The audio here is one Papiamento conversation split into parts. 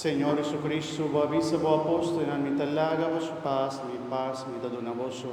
Señor Jesucristo, bo a bisa bo apóstolnan, Mi ta laga boso pas, mi pas mi ta duna boso.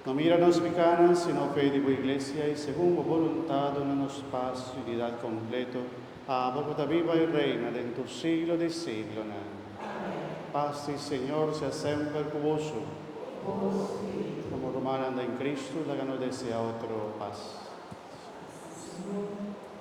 No mira nos pikánan, sino fe di bo iglesia, i segun bo boluntat duna nos pas i unidat kompleto. Abo cu ta biba y reina den tur siglo di siglonan. Pas di Señor sea semper cu boso. Como rumannan den Cristo laga nos desea otro pas.